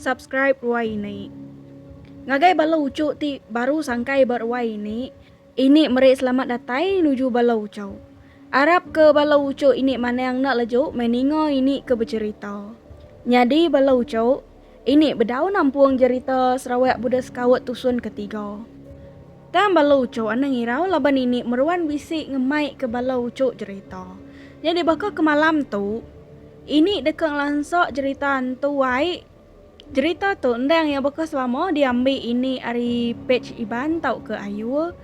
Subscribe ruai ini. Ngagai bala ucu ti baru sangkai ba ruai ini. Ini meri selamat datai nuju bala ucau. Arap ke bala ucu ini manang enda leju meh ninga ini ke becerita. Nyadi bala ucu ini bedau nampung jerita Sarawak Buda Sekaut Tusun Ketiga. Tang bala uchu enda ngirau laban ini meruan bisi ngemaika bala uchu jerita. Nyadi baka ke malam tu, ini deka ngelansa jerita entu ai. Jerita tu endang iya baka selama diambi ini ari pej Iban tauka Ayul.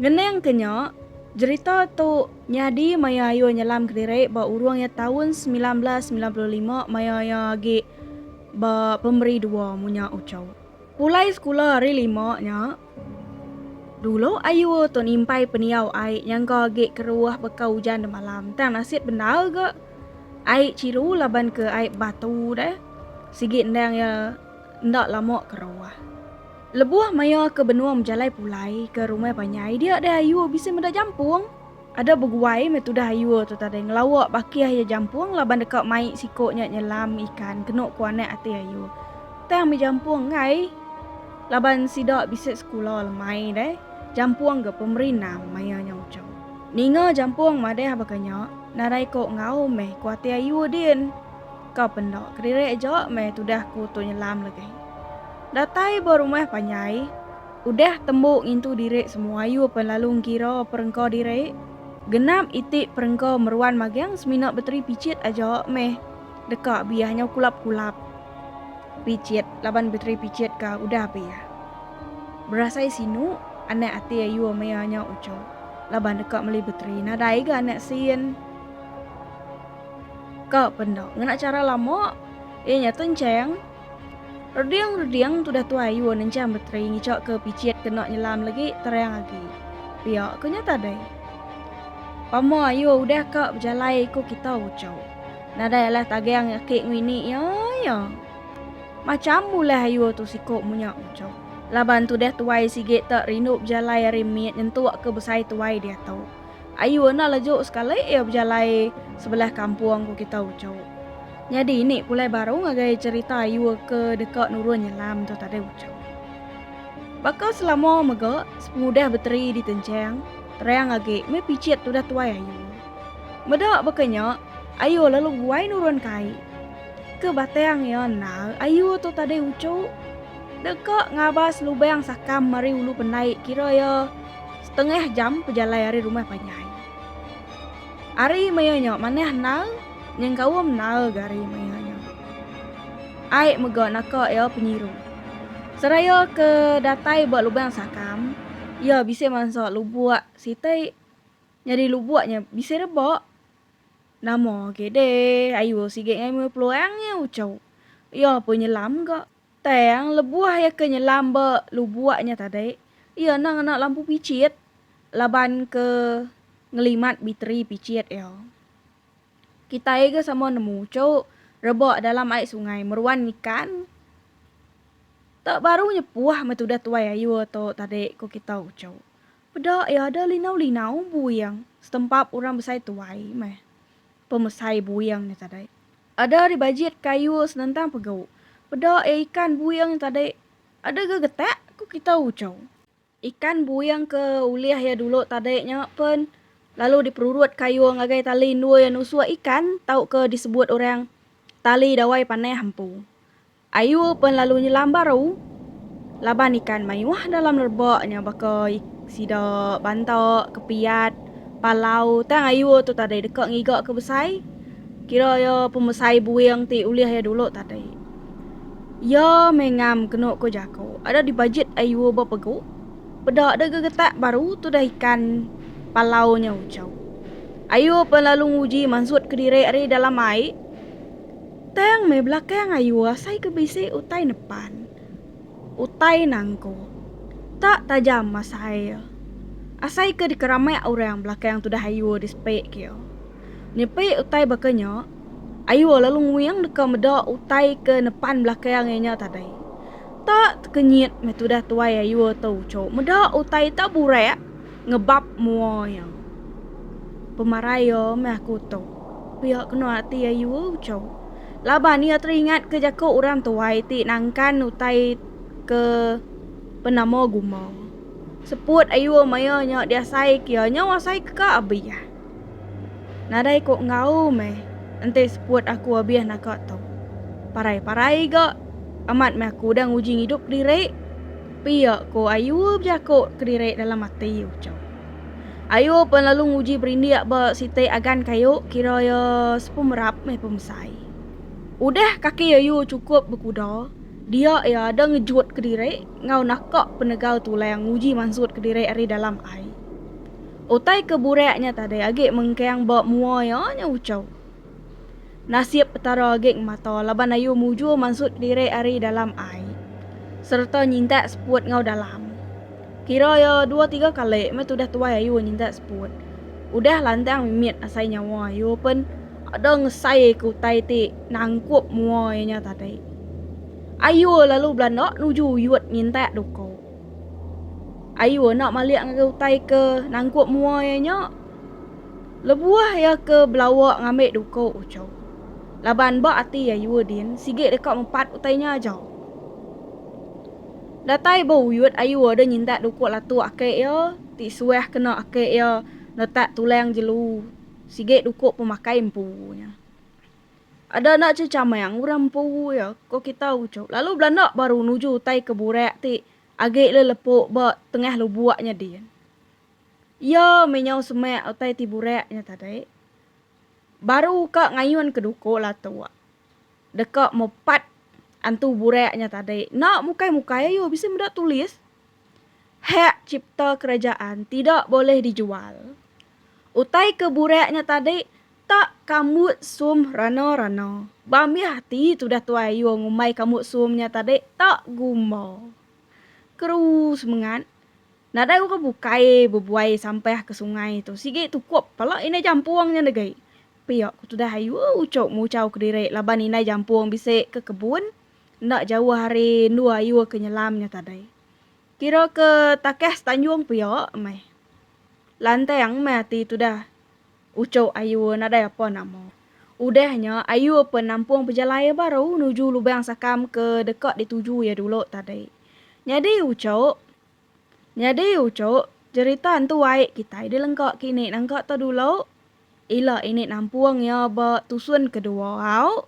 Ngenangka nya, jerita tu nyadi maya Ayul nyelam kediri ba urung iya taun semilan belas semilan puluh lima maya iya agi ba pemeri dua munya uchu. Pulai sekula hari lima nya, dulu ayu tu nimpai pendiau ai nyangka agi keruah baka ujan demalam tang nasit bendar ga ai chilu laban ke ai batu deh sigi endang iya enda lama keruah. Lebuh maya ke benung bejalai pulai ke rumah panjai dia deh ayu bisi meda jampung. Ada beguai meh tudah ayur tu tadi ngelawa bakih iya jampung laban deka mai siko nya nyelam ikan kenu ku anak ati ayur. Tang meh jampung enggai laban sida bisi sekula lemai deh. Jampung ga pemeri nam maya nya ucau. Ninga jampung madah baka nya, nadai ko enggau meh ku ati ayur din. Ka pen enda, kediri aja meh tudah ku tu nyelam legih. Datai ba rumah panjai. Udah tembu ngintu diri semua ayu pen lalu ngira perengka diri. Genap iti perengka meruan magang semina beteri pichit aja meh deka biah nyau kulap kulap pichit laban beteri pichit ka udah biah. Berasai sinu anak ati ayu mea nya ucho laban deka meli beteri nadai ga anak sin ka pen enda ngena chara lama iya nya tencheng. Reding reding tudah tuai yu nenchang beteri ngichok ke pichit kena nyelam legi terang agi. Pia ke nya tadai. Pama yu udah ka bejalai iku kita ucau. Nadai alah tagang aki ngini ya ya. Macham ulah yu tu siko munya ucau. Laban tudah tuai sigi tak rindu bejalai ari mit nyentuk ke besai tuai diatu. Ayu enda lejuk sekali iya bejalai sebelah kampung ku kita ucuk. Nyadi ini pulai baru ngagai cerita ayu ke deka nurun nyelam tu tadi ucuk. Baka selama mega sepengudah beteri ditenchang, terang agi meh pichit tudah tuai ayu. Meda baka nya, ayu lalu guai nurun kai. Ke batang iya endar ayu tu tadi ucuk. Deka ngabas lubang sakam mari ulu pendai kira iya. Tengah jam pejalai ari rumah panjai. Ari maya nya manah endar nyengkaum endar ga ari maya nya. Ai mega naka iya penyiru. Seraya ke datai ba lubang sakam, iya bisi mansa lubuk siti nyadi lubuk nya bisi rebak. Nama agi deh ayu sigi ngai meh peluang nya uchu. Iya pun nyelam ga. Tang lebuh iya ke nyelam ba lubuk nya tadi, iya enda ngena lampu pichit laban ke ngelimat biteri pichit iya. Kitai ga sama nemu uchu rebak dalam ai sungai meruan ikan. Tak baru nyepuh meh tudah tuai ayur tu tadi ku kita uchu. Peda iya ada linau-linau buing setempap orang besai tuai meh pemesai buing nya tadi. Ada ari bajit kayu senentang pegau. Peda iya ikan buing tadi. Ada ga getak, ku kitai Ucau. Ikan buing ke ulih iya dulu tadi nya pen lalu diperurut kayu ngagai tali endui nusuk ikan tauka disebut orang tali dawai panah empu. Ayu pen lalu nyelam baru laban ikan mayuh dalam nerba nya baka sida banta, kepiat, palau tang ayu tu tadai deka ngiga ke besai kira iya pemesai buing ti ulih iya dulu tadai. Iya meh ngam kenu ku jaku ada dibajit ayu ba pegu peda deh gegetak baru tudah ikan palau nya uchau. Ayu pen lalu nguji mansut kediri ari dalam ai. Tang meh belakang ayu asai ke bisi utai nepan. Utai nangku. Tak tajam asai iya. Asai ke dikeramak orang belakang tudah ayu di sepi kia. Nyepi utai baka nya, ayu lalu nguing deka meda utai ke nepan belakang iya nya tadai. Tak tekenyit meh tudah tuai ayu tu uchu meda utai tak burak Ngebap mua iya. Pemarai iya meh aku tu. Pia kena ati ayu uco. Laban iya teringat ke jaku orang tuai ti nangkan utai ke penama guma. Seput ayu maya nya diasai ke iya nyau asai ke ka abih. Nadai ko enggau meh enti seput aku abih naka tu. Parai parai ga amat meh aku udah nguji ngidup kediri. Pia ko Ayu bejako kediri dalam ati ucau. Ayu pen lalu nguji berindik ba siti agan kayu kira iya sepemerap meh pemesai. Udah kaki Ayu chukup bekuda dia iya ada ngejut kediri enggau naka penegau tulang nguji mansut kediri ari dalam ai. Utai ke burak nya tadi agi mengkang ba mua iya nya ucau. Nasib Petara agi ngemata laban ayu mujur mansut kediri ari dalam ai sereta nyintak seput enggau dalam. Kira iya dua tiga kali meh tudah tuai ayu nyintak seput. Udah lantang mimit asai nyawa ayu pen ada ngesaika utai ti nangkup mua iya nya tadi. Ayu lalu belanda nuju uyut nyintak duka. Ayu enda malik ngagai utai ke nangkup mua iya nya lebuh iya ke belawa ngambi duko uchu. Laban ba ati ayu din sigi deka mepat utai nya aja. Datai ba uyut ayu deh nyintak duko latu ake iya ti suah kena ake iya netak tulang jelu sigi duko pemakai empu nya. Ada enda che chamang orang empu iya ko kita uchu lalu belanda baru nuju utai ke burak ti agi le lepo ba tengah lubok nya din. Iya meh nyau semak utai ti burak nya tadi baru ka ngayun ke duko latok deka mepat antu burak nya tadi enda mukai mukai ayo bisi meda tulis hak cipta kerajaan tidak boleh dijual utai ke burak nya tadi Tak kambut sum rana-rana. Ba mih ati tudah tuai ayuh ngumbai kambut sum nya tadi tak gumba. Keruu semengat. Nadai orang bukai bebuai sampah ke sungai tu sigi tukup pala indai jampung nya negi. Pia ku tudah ayuh uchup nguchau kediri laban indai jampung bisi ke kebun enda jauh ari endur ayuh ke nyelam nya tadi. Kira ke takah setanjung pia meh. Lantang meh ati tudah. Uchu Ayue nadai apa nama. Udah nya, Ayue pen nampung pejalai iya baru nuju lubang sakam ke deka dituju iya dulu tadi. Nyadi Uchu! Nyadi Uchu! Jerita entu ai kitai dilengka ke ini nangka tu dulu. Ila ini nampung iya ba tusun kedua au.